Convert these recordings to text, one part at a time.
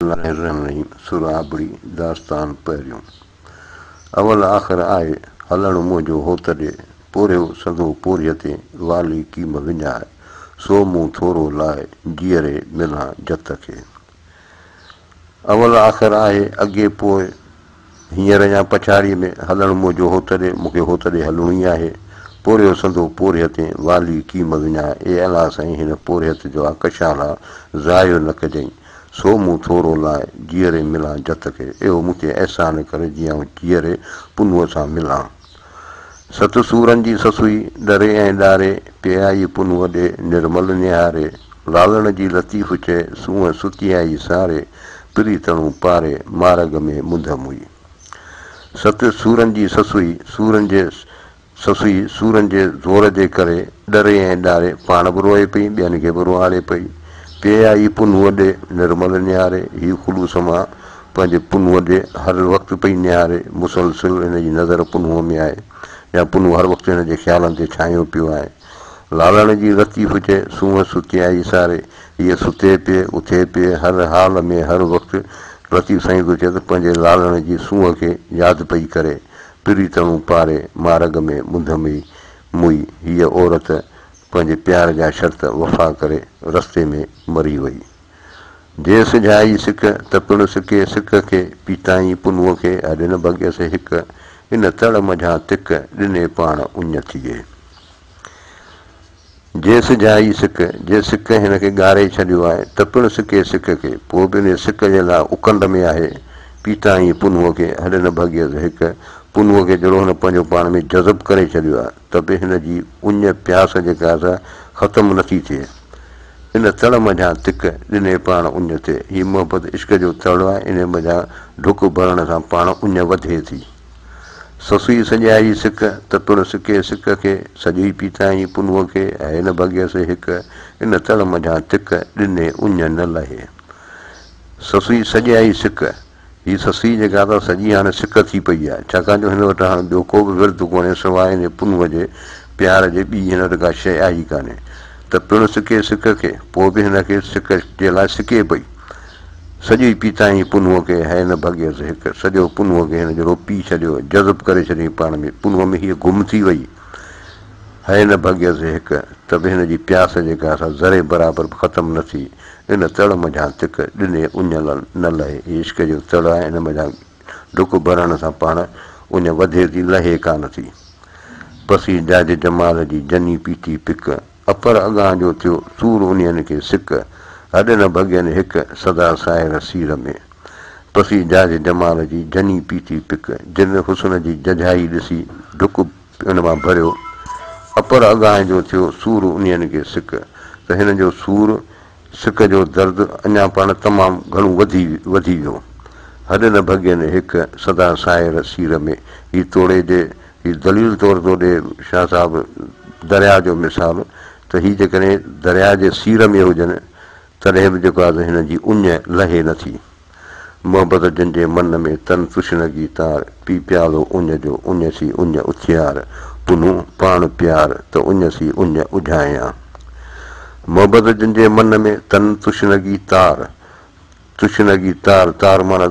لائرنين سرابڙي داستان پهريون اول آخر آهي هلڻ منهنجو هوت ڏي پورهيو سندو پورهيي تي والي ڪيم وڃائي سو مون ٿورو لاء جيئري ملان جت کي اول آخر آهي اڳي پوء هينئر يا پڇاڙيء ۾ هلڻ منهنجو هوتڏهن مونکي هوتڏهن هلڻو ئي آهي. پورهيو سندو پورهيتين والي ڪيم وڃان، اي الله سائين هن پورهيت جو آ ڪشال آ، ضايع نه ڪجئين. سو مون ٿورو لاء جيئري ملان جت کي، اهو مون تي احسان ڪر جي آئون جيئري پنهونء سان ملان. ست سورن جي سسئي، ڏري ۽ ڏاري، پئي آئي پنهونء ڏي، نرمل نهاري، لالڻ جي لطيف چئي، سونهن ستي آئي ساري، پري تڻون پاري، مارڳ ۾ منڌ موئي. ست سورن جي سسئي، سورن جي سسئي، سورن جي زور جي ڪري، ڏري ۽ ڏاري، پاڻ به روئي پئي، ٻين کي به روئاڙي پئي، پئي آئي پنهونء ڏي، نرمل نهاري، هي خلوص مان پنهنجي پنهونء ڏي هر وقت پئي نهاري، مسلسل هن جي نظر پنهونء ۾ آهي يا پنهون هر وقت هن جي خيالن تي ڇانيو پيو آهي. لالاڻي جي لطيف چئي سونهن ستي آئي ساري، هيء ستي پئي، اٿي پئي، هر حال ۾ هر وقت لطيف سائين ٿو چئي ته پنهنجي لالاڻي جي سونهن کي ياد پئي ڪري، پريتڻو پاري مارڳ ۾ منڌ مئي موئي، هيء عورت پنهنجي پيار جا شرط وفا ڪري رستي ۾ مري وئي. جي سجهائي سڪ ته پڻ سڪي سڪ کي، پيتائين پنهون کي اڏ نه ڀڳيس هڪ، ان تڙ منجهان تک، ڏني پاڻ اڃ ٿيئي. جي سجهائي سڪ، جي سڪ هن کي ڳاري ڇڏيو آهي، ته پڻ سڪي سڪ کي، پوء به انهي سڪ جي لاء اڪنڊ ۾ آهي، پيتائين پنهون کي اڏ نه ڀڳيس هڪ، پنهون کي جهڙو هن پنهنجو پاڻ ۾ جذب ڪري ڇڏيو آهي. ته به هن جي اڃ پياس جيڪا آهي سا ختم نه ٿي ٿئي. ان تڙ منجهان تک ڏني پاڻ اڃ ٿئي. هي محبت عشق جو تڙ آهي، انهيء منجهان ڍڪ ڀرڻ سان پاڻ اڃ وڌي ٿي. سسئي سڄائي سڪ ته پڻ سڪي سڪ کي، سڄئي پيتائين پنهونء کي، هيء نه ڀڳيس هڪ، ان تڙ منجهان تک ڏني اڃ نه لهي. سسئي سڄائي سڪ، هيء سسئي جيڪا ته سڄي هاڻي سڪ ٿي پئي آهي، ڇاڪاڻ جو هن وٽ هاڻ ٻيو ڪو به ورد ڪونهي سواء هن جي پنهونء جي پيار جي ٻي هن وٽ ڪا شيء آهي ئي ڪانهي ته پڻ سڪي سڪ کي، پوء به هن کي سڪ جي لاء سڪي پئي. سڄو ئي پيتائين پنهونء کي، هيء نه ڀڳيس هڪ، سڄو پنهونء کي هن جهڙو پي ڇڏيو، جذب ڪري ڇڏيائين پاڻ ۾، پنهونء ۾ هيء گم ٿي ويئي. هيء نه ڀڳيس هڪ، ته به هن جي پياس جيڪا سا ذري برابر به ختم نه ٿي. ان تڙ منجهان تک ڏني اڃل نه لهي. عشق جو تڙ آهي ان منجهان ڍڪ ڀرڻ سان پاڻ اڃ وڌي ٿي لهي ڪانه ٿي. پسي جاجي جمال جي جني پيتي پڪ. اپر اڳان جو ٿيو سور انهين کي سڪ. هڏ نه ڀڳين هڪ سدا ساهر سير ۾. پسي جاجي جمال جي جني پيتي پڪ. جن حسن جي ججهائي ڏسي ڍڪ ان مان ڀريو اپر اگاهين جو ٿيو سور انهين کي سڪ ته هن جو سور سڪ جو درد اڃا پاڻ تمام گهڻو وڌي وڌي ويو هڏ نه ڀڳين هڪ سدا ساير سير ۾ هي توڙي ڏي هي دليل طور ٿو ڏي شاهه صاحب درياء جو مثال ته هي جيڪڏهن درياء جي سير ۾ هجن تڏهن به جيڪا ته هن جي اڃ لهي نه ٿي. محبت جن جي من ۾، تن تشنگي تار، پي پيالو اڃ جو، اڃ سي اڃ اٿيار، پنو پاڻ پيار، ته اڃ سي اڃ اجهايان. محبت جن جي من ۾، تن تشنگي تار، تشنگي تار، تار معنيٰ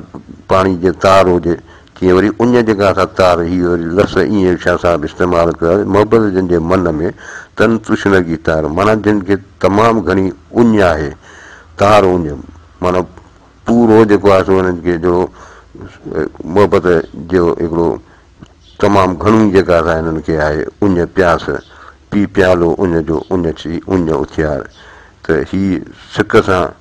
پاڻي جيئن تار هجي، ڪي وري ان جڳهه تان تار هيء لفظ ائين هيٺيان سان به استعمال ڪيو آهي ته محبت جن جي من ۾، تن تشنگي تار، معنيٰ جن کي تمام گهڻي اڃ آهي، تار اڃ، معنيٰ پورو جيڪو آهي سو انهن کي جو محبت جو هڪڙو تمام گهڻو ئي جيڪا سا هنن کي آهي اڃ، پياس، پي پيالو اڃ جو، اڃ ڇي، اڃ اٿيار، ته هي سڪ سان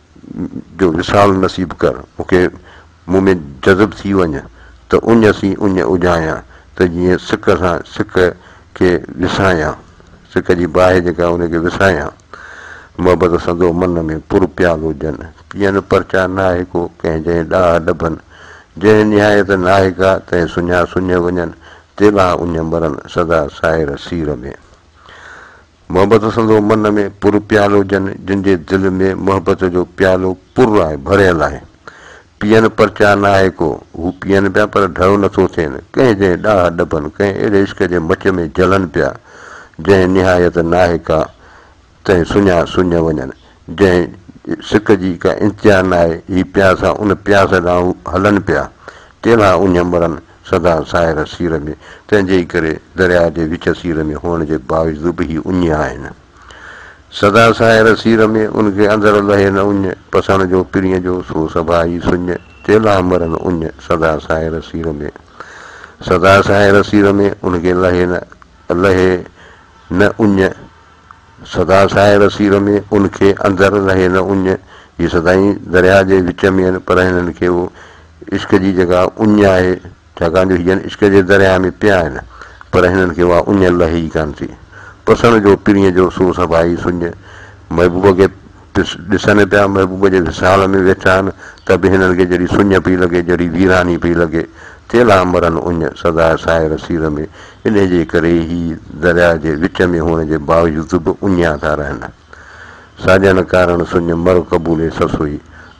جو وصال نصيب ڪر، مون کي مون ۾ جذب ٿي وڃ، ته اڃ سين اڃ اجهايان، ته جيئن سڪ سان سڪ کي وسايان، سڪ جي باهه جيڪا ان کي وسايان، محبت سندو من ۾ پر پيالو جن، پيئن پرچا ناهي ڪو، ڪنهن جنهن ڏاهه ڏڀن، جنهن نهايت ناهي ڪا، تنهن سڃا سڃ وڃن، تيلها اڃ مرن، سدا سائر سير ۾. محبت پسندو من ۾ پر پيال هجن، جن جي دل ۾ محبت جو پيالو پر آهي، ڀريل آهي. پيئن پرچاء ناهي ڪو، هو پيئن پيا پر ڍرو نٿو ٿين، ڪنهن جنهن ڏاهه ڏبن، ڪنهن اهڙي عشق جي مچ ۾ جلن پيا، جنهن نهايت ناهي ڪا، تنهن سڃا سڃ وڃن. جنهن سڪ جي ڪا انتها ناهي، هي پياسا ان پياس ڏانهن هلن پيا، ڪيلها اڃ مرن سدا ساحر سير ۾، تنهن جي ئي ڪري درياء جي وچ سير ۾ هئڻ جي باوجود به هي اڃ آهن. سدا ساحر سير ۾، ان کي اندر لهي نه اڃ، پسڻ جو پرينء جو سو سڀا ئي سڃ، ڪيلها مرن اڃ سدا ساحر سير ۾، سدا ساحر سير ۾، ان کي لهي نه لهي نه اڃ، سدا ساحر سير ۾ ان کي اندر رهي نه اڃ جي سدائين درياهه جي وچ ۾ آهن پر هنن کي اهو عشق جي جڳهه اڃ آهي ڇاڪاڻ جو هي جن عشق جي درياهه ۾ پيا آهن پر هنن کي اها اڃ لهي ئي ڪانه ٿي پسڻ جو پرينء جو سو سڀائي سڃ محبوب کي ڏسن پيا محبوب جي وصال ۾ ويٺا آهن ته به هنن کي جڙي سڃ پئي لڳي جڙي ويراني پئي لڳي چيلا مرن اڃ سدا سائر سير ۾ انهي جي ڪري هي درياء جي وچ ۾ هئڻ جي باوجود به اڃيا ٿا رهن ساڄن ڪارڻ سڃ مر قبولي سسوئي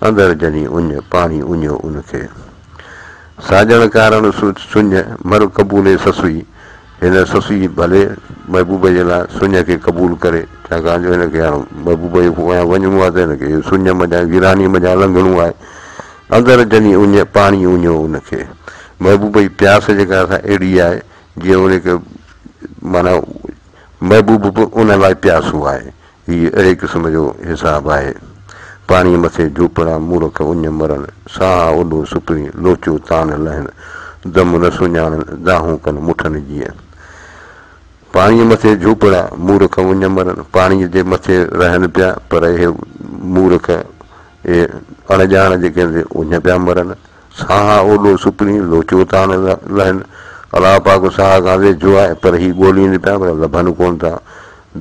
اندر جني اڃ پاڻي اڃيو ان کي ساڄن ڪارڻ سڃ مر قبولي سسوئي هن سسئي ڀلي محبوب جي لاء سڃ کي قبول ڪري، ڇاڪاڻ جو هن کي هاڻ محبوب جي پويان وڃڻو آهي ته هن کي سڃ منجهان ويرانيء منجهان لنگهڻو آهي. اندر جني اڃ پاڻي اڃيو ان کي. محبوب جي پياس جيڪا سا اهڙي آهي جيئن ان کي معنيٰ محبوب به ان لاء پياسو آهي. هي اهڙي قسم جو حساب آهي. پاڻيء مٿي جهوپڙا، مورک اڃ مرن، ساها اڏو سڪڻي، لوچو تان لهن، دم نه سڃاڻن، دانهون ڪن مٺن جيئن. پاڻيء مٿي جهوپڙا، مورک اڃ مرن، پاڻيء جي مٿي رهن پيا، پر اهي مورک، اهي اڻڄاڻ جيڪي اڃ پيا مرن، ساها اوڏو سپري لوچو ٿا لهن. الله پاڪ ساها گانزي جو آهي پر هي ڳولين پيا پر لڀن ڪونه ٿا.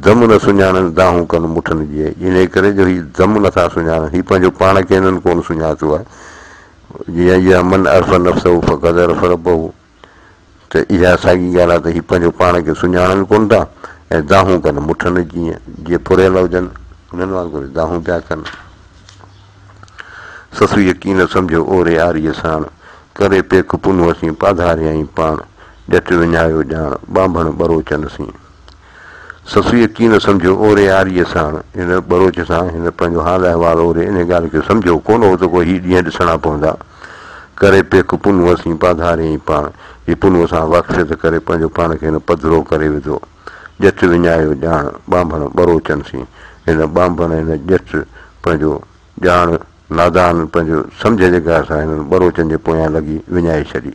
دم نه سڃاڻن دانهون ڪن مٺن جي انهي ڪري جو هي دم نه ٿا سڃاڻن هي پنهنجو پاڻ کي هنن ڪونه سڃاتو آهي. جي ايها من عرف نفسه فقد عرف ربه. ته اها ساڳي ڳالهه آهي ته هي پنهنجو پاڻ کي سڃاڻن ڪونه ٿا ۽ دانهون ڪن، مٺن جيئن، جي ڦريل هجن، انهن وانگر ئي دانهون پيا ڪن. سسئي يڪي نه سمجهيو اوري آريء ساڻ، ڪري پيڪ پنهون اسين پاڌاريائين پاڻ، ڄٽ وڃايو ڄاڻ، ٻانڀڻ ٻروچن سين. سسئي يقين نه سمجهيو اوري آريء ساڻ ان ٻروچ سان هن پنهنجو حال احوال اوري ان ڳالهه کي سمجهيو ڪونه هو ته ڪو هي ڏينهن ڏسڻا پوندا. ڪري پيڪ پنهونء سين پاڌاريائين پاڻ جي پنهونء سان واقفيت ڪري پنهنجو پاڻ کي هن پڌرو ڪري وڌو. ڄچ وڃايو ڄاڻ ٻانڀڻ ٻروچن سين هن ٻانڀڻ هن ڄچ پنهنجو ڄاڻ نادان پنهنجو سمجهه جي گهر سان هنن ٻروچن جي پويان لڳي وڃائي ڇڏي.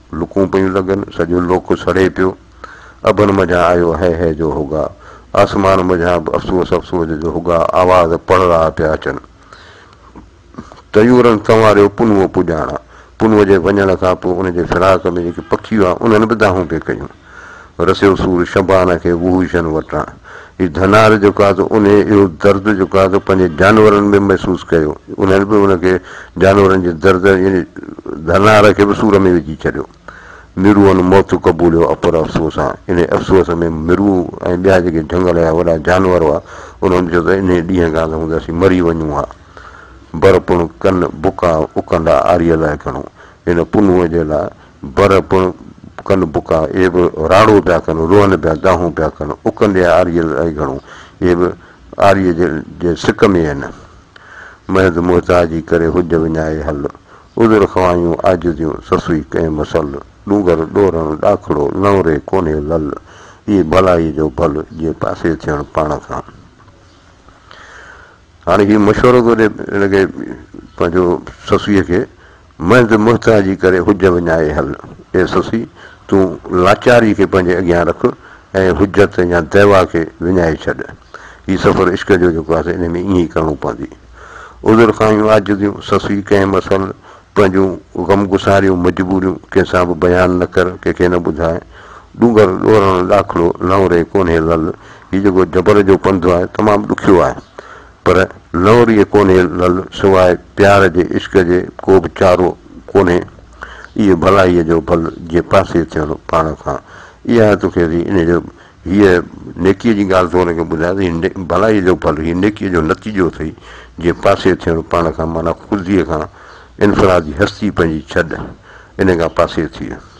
لڪون پيون لڳن، سڄو لوڪ سڙي پيو. اڀن منجهان آيو هئي هئي جو هوگا. آسمان منجهان به افسوس افسوس جو هوگا آواز پڙ رها پيا اچن. طيورن سنواريو پنهون پڄاڻان. پنهون جي وڃڻ کان پوء ان جي فراق ۾ جيڪي پکي هئا، انهن به دانهون پئي ڪيون. رسيو سور شبانه کي وحوشن وٽان. هي ڌنار جو قاضو انهيء اهو درد جو قاضو پنهنجي جانورن ۾ محسوس ڪيو. انهن به ان کي جانورن جي درد يعني ڌنار کي به سور ۾ وجهي ڇڏيو. ميروئن موت قبوليو اپر افسوس سان. انهيء افسوس ۾ مرو ۽ ٻيا جيڪي جهنگل جا وڏا جانور هئا، انهن چيو ته انهيء ڏينهن کان ته هوندي اسين مري وڃون ها. برپڻ ڪن بڪا اڪنڊا آريء لاء ڪنو. هن پنهونء جي لاء بر پڻ ڪن بڪا، اهي به راڙو پيا ڪن، روئن پيا، دانهون پيا ڪن، اڪن ڏي آريء الاهي گهڻو، اهي به آريء جي سڪ ۾ آهن. محض محتاجي ڪري حج وڃائي هل، عذر خوائيون عاجزيون، سسئي ڪئين مسل، ڏونگر ڏورڻ ڏاکڙو، نئوري ڪونهي لل، اهي ڀلائيء جو ڀل، جيئن پاسي ٿيڻ پاڻ کان. هاڻي هي مشورو ٿو ڏي، هن کي پنهنجو سسئيء کي. منجھ محتاجي ڪري حج وڃائي هل. اي سسي! تون لاچاري کي پنهنجي اڳيان رک ۽ حجت يا دعويٰ کي وڃائي ڇڏ. هي سفر عشق جو جيڪو آهي ان ۾ ائين ئي ڪرڻو پوندي. عذر خواهيون، عاجزيون، سسي! ڪنهن مسئل پنهنجون غمگساريون، مجبوريون ڪنهن سان به بيان نه ڪر، ڪنهن کي نه ٻڌاء. ڏونگر ڏورڻ ڏاکڙو، نئون ري ڪونهي لل. هي جيڪو جبل جو پنڌ آهي، تمام ڏکيو آهي. پر نوريء ڪونهي لعل سواء پيار جي عشق جي ڪو به چارو ڪونهي اهو ڀلائيء جو ڀل جي پاسي ٿيڻ پاڻ کان اها توکي ٿي ان جو هيء نيڪيء جي ڳالهه تو هن کي ٻڌايان ته هي ڀلائيء جو ڀل هي نيڪيء جو نتيجو اٿئي جي پاسي ٿيڻ پاڻ کان معنيٰ خوديء کان انفرادي هستي پنهنجي ڇڏ ان کان پاسي ٿيء.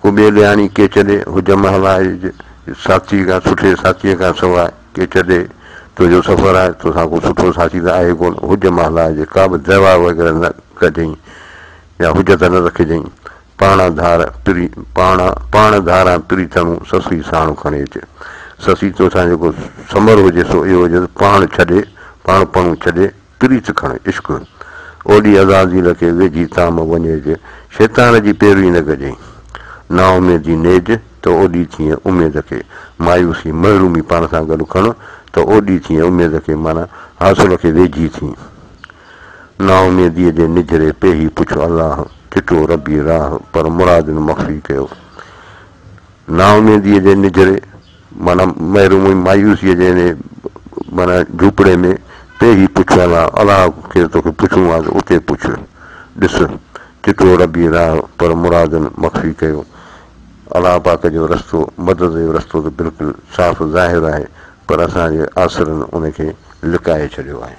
ڪو ٻيو ڏيهاڻي ڪيچ ڏي، حجم هلائج، ساٿيء کان، سٺي ساٿيء کان سواء، ڪيچ ڏي، تنهنجو سفر آهي، توسان ڪو سٺو ساٿي ته آهي ڪونه، حجم هلائج، ڪا به دعويٰ وغيره نه ڪجئين يا حجت نه رکجئين، پاڻان ڌار، پري، پاڻان، پاڻ ڌاران پريتڻون، سسئي ساڻ کڻي اچ، سسئي توسان جيڪو ثمر هجي سو اهو هجي ته پاڻ ڇڏي، پاڻپڻو ڇڏي، پريت کڻ عشق اوڏي عزازيل کي ويجهي تام وڃيج شيطان جي پيروي نه ڪجين نااميدي نيج ته اوڏي ٿئين اميد کي مايوسي محرومي پاڻ سان گڏ کڻ ته اوڏي ٿئين اميد کي معنيٰ حاصل کي ويجهي ٿي نااميديء جي نجهري پيهي پڇ الله چٽو ربي راهه پر مرادن مخفي ڪيو نااميديء جي نجهري معنيٰ محرومي مايوسيء جي انهيء معنيٰ جهوپڙي ۾ ته هي پڇڻ لاء الله کي توکي پڇڻو آهي ته اتي پڇ، ڏس، چٽو ربي راهه پر مرادن مخفي ڪيو. الله پاڪ جو رستو، مدد جو رستو ته بلڪل صاف ظاهر آهي پر اسان جي آسرن ان کي لڪائي ڇڏيو آهي.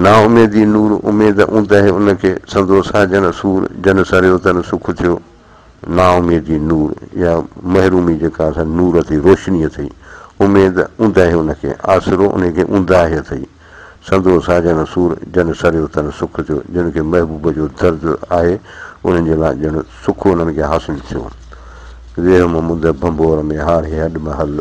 نااميدي نور اميد اوندهه ان کي، سندو ساجڻ سور جن سريو تن سک ٿيو. نااميدي نور يا محرومي جيڪا اسان نور اٿئي، روشني اٿئي، اميد اوندهه ان کي، آسرو انهي کي اونداهي اٿئي، سندو ساجڻ سور جن سريو تن سک ٿيو، جن کي محبوب جو درد آهي، انهن جي لاء ڄڻ سک انهن کي حاصل ٿيو. ويهم منده ڀنڀور ۾ هاري هڏ محل.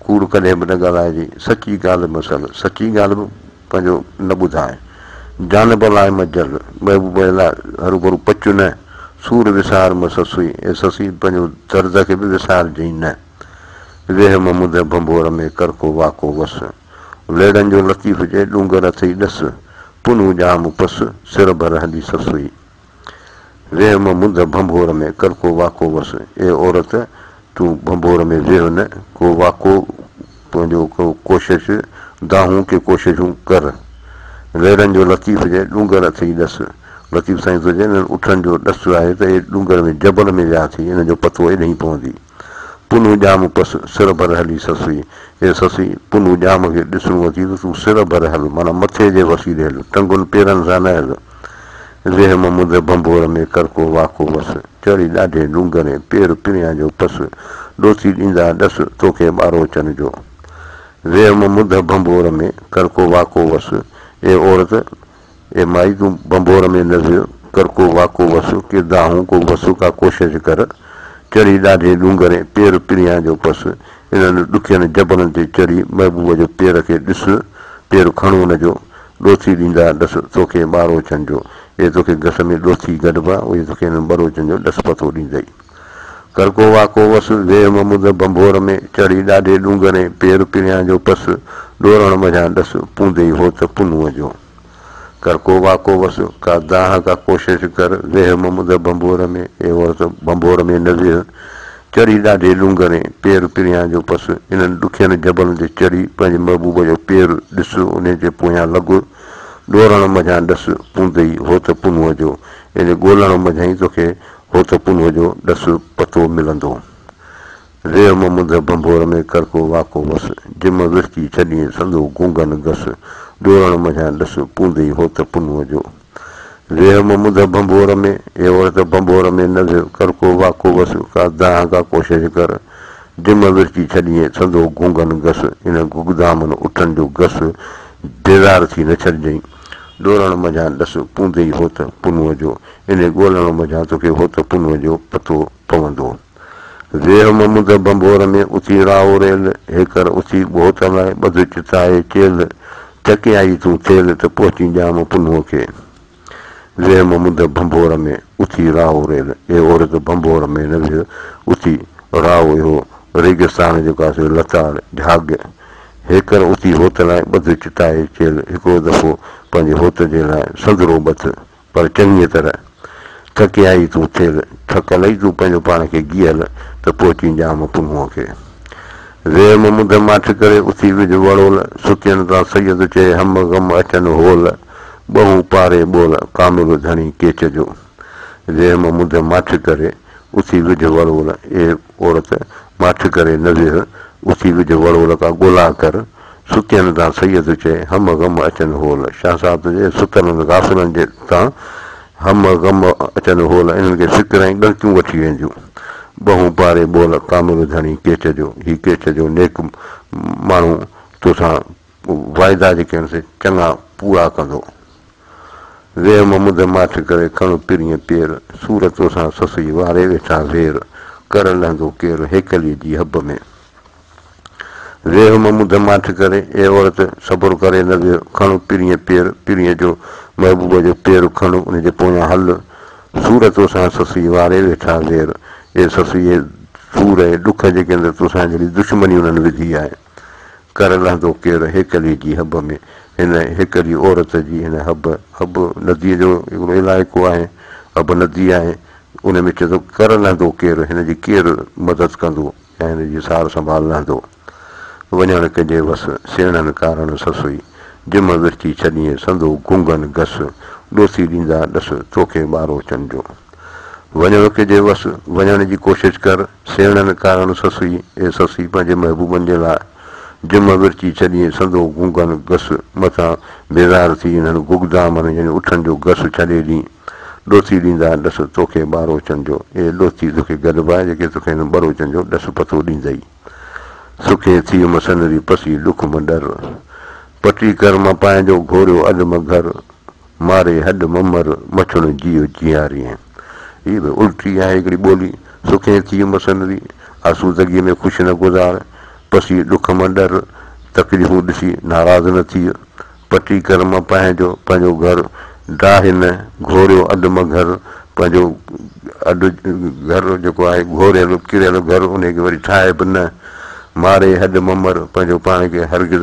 ڪوڙ ڪڏهن به نه ڳالهائجي، سچي ڳالهه به سل، سچي ڳالهه به پنهنجو نه ٻڌاء. جانب لاء مه جل، محبوبه لاء هروڀرو پچ نه، سور وسار مه سسوئي، اي سسي پنهنجو درد کي به وسارجئين نه. ويهه مه منڌ ڀنڀور ۾، ڪر ڪو واڪو وس. ليڙن جو لطيف جي ڏونگر اٿئي ڏس، پنهون ڄام پس، سر ڀر هلي سسوئي. ويهه مان منڌ ڀنڀور ۾، ڪر ڪو واڪو وس. اي عورت! تون ڀنڀور ۾ ويهه نه، ڪو واڪو، پنهنجو ڪو ڪوشش، دانهون ڪي ڪوششون ڪر. ويرن جو لطيف جي ڏونگر اٿئي ڏس. لطيف سائين تنهنجي انهن اٺن جو ڏس آهي ته اي ڏونگر ۾ جبل ۾ ويا اٿئي، ان جو پتو ايڏهين پوندي. پنهون ڄام ڪس، سر ڀر هلي سسئي! اي سسئي! پنهون ڄام کي ڏسڻو اٿئي ته تون سر ڀر هل، معنيٰ مٿي جي وسيلي هل، ٽنگن پيرن سان نه هل. ويهه ممد ڀنڀور ۾ ڪرڪو واڪو وس، چڙهي ڏاڍي ڏونگرين، پير پريان جو پس، ڏوتي ڏيندا ڏس، توکي ٻاروچن جو. ويهه ممد ڀنڀور ۾ ڪرڪو واڪو وس، اي عورت! اي مائي تون ڀنڀور ۾ نز، ڪر ڪو واڪو وس، ڪي دانهون ڪو وس، ڪا ڪوشش ڪر، چڙهي ڏاڍي ڏونگر ۽ پير پريان جو پس، انهن ڏکين جبلن تي چڙهي محبوب جو پير کي ڏس، پير کڻو ان جو، ڏوٿي ڏيندا ڏس توکي ٻاروچن جو، اي توکي گس ۾ ڏوٿي گڏبا، اهي توکي انهن ٻروچن جو ڏس پتو ڏيندئي. ڪرڪو واڪو وس، ديهه محمود ڀنڀور ۾، چڙهي ڏاڍي ڏونگري، پير پريان جو پس، ڏورڻ منجهان ڏس، پوندي هو ته پنوء جو. ڪرڪو واڪو وس، ڪا دانهه ڪا ڪوشش ڪر، ديهه محمود ڀنڀور ۾، اي عورت ڀنڀور ۾ نه ويهه، چڙهي ڏاڍي ڏونگري، پير پريان جو پس، انهن ڏکين جبلن تي چڙهي، پنهنجي محبوب جو پير ڏس، انهيء جي پويان لڳ، ڏورڻ منجهان ڏس، پوندي هو ته پنوء جو، ان ڳولڻ منجهان ئي توکي هو ته پنهي جو ڏس پتو ملندو. ريء ممنده ڀنڀور ۾ ڪرڪو واڪو وس، جم ورچي ڇڏين سندو گونگن گس، ڏورڻ منجهان ڏس پوندئي هو ته پنهي جو. ريء ممنده ڀنڀور ۾، اي عورت ڀنڀور ۾ نه ويهه، ڪرڪو واڪو وس، ڪا دانهن ڪا ڪوشش ڪر، جم ورچي ڇڏين سندو گونگن گس، ان گگدامن اٺن جو گس بيزار ٿي نه ڇڏجئين. ڏورڻ منجهان ڏس پوندي ئي هوت پنوء جو، انهي ڳولڻ منجهان توکي هوت پنوء جو پتو پوندو. ويهه ممد ڀنڀور ۾، اٿي راهو ريل، هيڪر اٿي ٻهو تلائي، ٻڌ چتائي چيل، چڪي آئي تون ٿيل، ته پهچين ڄام پنهوء کي. ويهه ممد ڀنڀور ۾، اٿي راهو ريل، اي عورت ڀنڀور ۾ نه ويهه، اٿي راهو اهو ريگستان جو ڪاسو لتاڙ، جهاڳ، هيڪر اتي هوت لاء ٻڌ چتائي چيل هڪڙو دفعو پنهنجي هوت جي لاء سندرو ٻڌ پر چڱيء طرح ٿڪي آئي تون ٿيل ٿڪ لئي تون پنهنجو پاڻ کي گيهل ته پوء چين ڄام پنهونء کي ويم مڌ ماٺ ڪري اتي وجهه وڙول ستين تان سيد چئي هم غم اچن هول ٻهون پاري ٻول ڪامل ڌڻي ڪيچ جو ويم مڌ ماٺ ڪري. اٿي وجهه وڙول، اي عورت! ماٺ ڪري نه ويهه، اٿي وجهه وڙول ڪا ڳولا ڪر، ستين تان سيد چئي، هم غم اچن هول، شاهه صاحب ته چئي، ستلن غافلن جي تان هم غم اچن هول، انهن کي فڪر ۽ ڳڻتيون وٺي وينديون. ٻهون پاري ٻول، ڪامل ڌڻي ڪيچ جو، هي ڪيچ جو نيڪ ماڻهو توسان واعدا جيڪي آهن سي چڱا پورا ڪندو. ويم مدهه ماٺ ڪري کڻ پرينء پير، سور توسان سسئي واري ويٺا زير، ڪر لهندو ڪير هيڪليء جي حب ۾. ويم مدهه ماٺ ڪري، اي عورت! صبر ڪري نه ويهه، کڻ پرينء پير، پرينء جو، محبوب جو، پير کڻ، ان جي پويان هل، سور توسان سسئي واري ويٺا زير، اي سسئي! سور ۽ ڏک جيڪي اندر توسان جهڙي دشمني انهن وڌي آهي. ڪر لهندو ڪير هيڪلي جي حب ۾، هن هيڪلي عورت جي هن حب، حب نديء جو هڪڙو علائقو آهي، حب ندي آهي، ان ۾ چئي ٿو ڪر لهندو ڪير، هن جي ڪير مدد ڪندو يا هن جي سار سنڀال لهندو. وڃڻ ڪنجي وس، سيڻن ڪارڻ سسئي، جم ورچي ڇڏيئين سندو گنگن گس، ڏوٿي ڏيندا ڏس، توکي ٻارو چن جو. وڃڻ ڪجي وس، وڃڻ جي ڪوشش ڪر، سيڻن ڪارڻ سسئي اي سسئي پنهنجي محبوبن جي لاء جم ورچي ڇڏيئي سندو گونگن گس مٿان بيزار ٿي انهن گگدامن يعني اٺن جو گس ڇڏي ڏي ڏوتي ڏيندا ڏس توکي ٻاروچن جو اي ڏوتي توکي گڏبا جيڪي توکي هن ٻروچن جو ڏس پتو ڏيندئي سڪي ٿي م سنري پسي ڏک م ڏر پٽي ڪر م پانهنجو گهوريو اڏ م گهر ماري هڏ ممر مڇڻ جيو جيارين. هي به الٽي آهي هڪڙي ٻولي. سکين ٿي عمر سنري، آسودگيء ۾ خوش نه گذار، پسي ڏک مان ڏر، تڪليفون ڏسي ناراض نه ٿيء، پٽي ڪر مان پنهن جو پنهنجو گهر، ڊاهه نه، گهوريو اڏ مان گهر، پنهنجو اڏ گهر جيڪو آهي گهوريل ڪريل گهر انهي کي وري ٺاهه به نه، ماري هڏ ممر پنهنجو پاڻ کي هرگز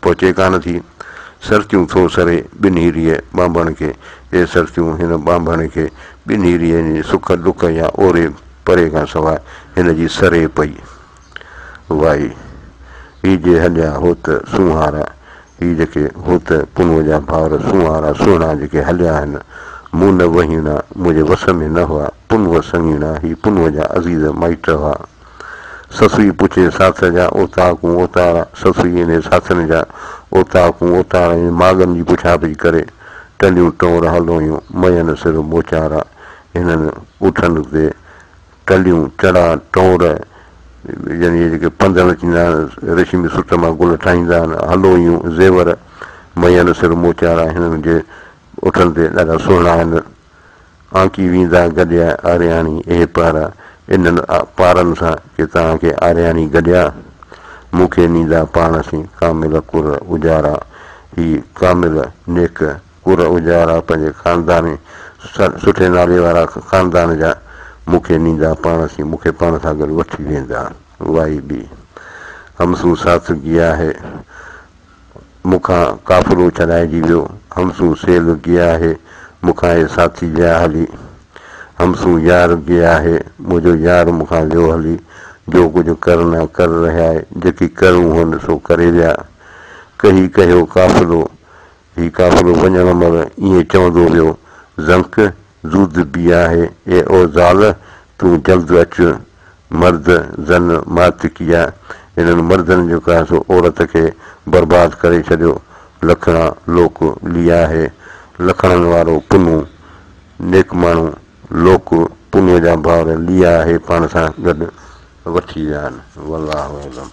پهچي ڪانه ٿي. سرتيون ٿو سري ٻنهيريء ٻانڀڻ کي، اي سرتيون هن ٻانڀڻ کي، ٻنهيريء جي سک ڏک يا اوري پري کان سواء هن جي سري پئي. وائي! هي جي هليا هوت سونهارا، هي جيڪي هوت پنهونء جا ڀائر سونهارا سهڻا جيڪي هليا آهن، مون نه وهيڻا، منهنجي وس ۾ نه هئا، پنهونء سڱيڻا، هي پنهونء جا عزيز مائٽ هئا. سسئي پڇي ساٿن جا اوطاقون اوتارا، سسئي انهي ساٿن جا اوطاقون اوتارا ۽ ماڳن جي پڇا پڇ ڪري ٽنڊيون ٽور هلدو هيون، مئن سر موچارا هنن اٺن تي ٽنڊيون چڙها ٽور يعني اهي جيڪي پنڌڻ ٿيندا آهن ريشمي سٽ مان گل ٺاهيندا آهن هلدو هيون، زيور مئن سر موچارا هنن جي اٺن تي ڏاڍا سهڻا آهن، آنڪي ويندا گڏيا آرياڻي اهي پارا انهن پارن سان ڪي توهان کي آرياڻي گڏيا مون کي نيندا پاڻ سين ڪامل ڪر اجارا هي ڪامل نيڪ ڪر اجارا پنهنجي خاندان سٺي نالي وارا خاندان جا مون کي نيندا پاڻ سين مون کي پاڻ سان گڏ وٺي ويندا واهي بي همسون ساٿ گيا هي. مون کان قافلو ڇڏائجي ويو، همسون سيل گيا هي، مون کان هي ساٿي ويا هلي. همسون يار گيا هي، منهنجو يار مون کان ويو هلي، جو ڪجهه ڪرنا ڪر رهيا هي، جيڪي ڪرڻو هئن سو ڪري ويا. ڪهي ڪهيو قافلو، هي قافلو وڃڻ مهل ائين چوندو ويو، زنڪ! زود بي آهي اي او زال تون جلد اچ مرد زن مات ڪيا انهن مردن جو ڪا سو عورت کي برباد ڪري ڇڏيو لکڻا لوڪ لي آهي لکڻن وارو پنهو نيڪ ماڻهو لوڪ پنهو جا ڀائر لي آهي پاڻ سان گڏ وٺي ويا آهن والله اعلم.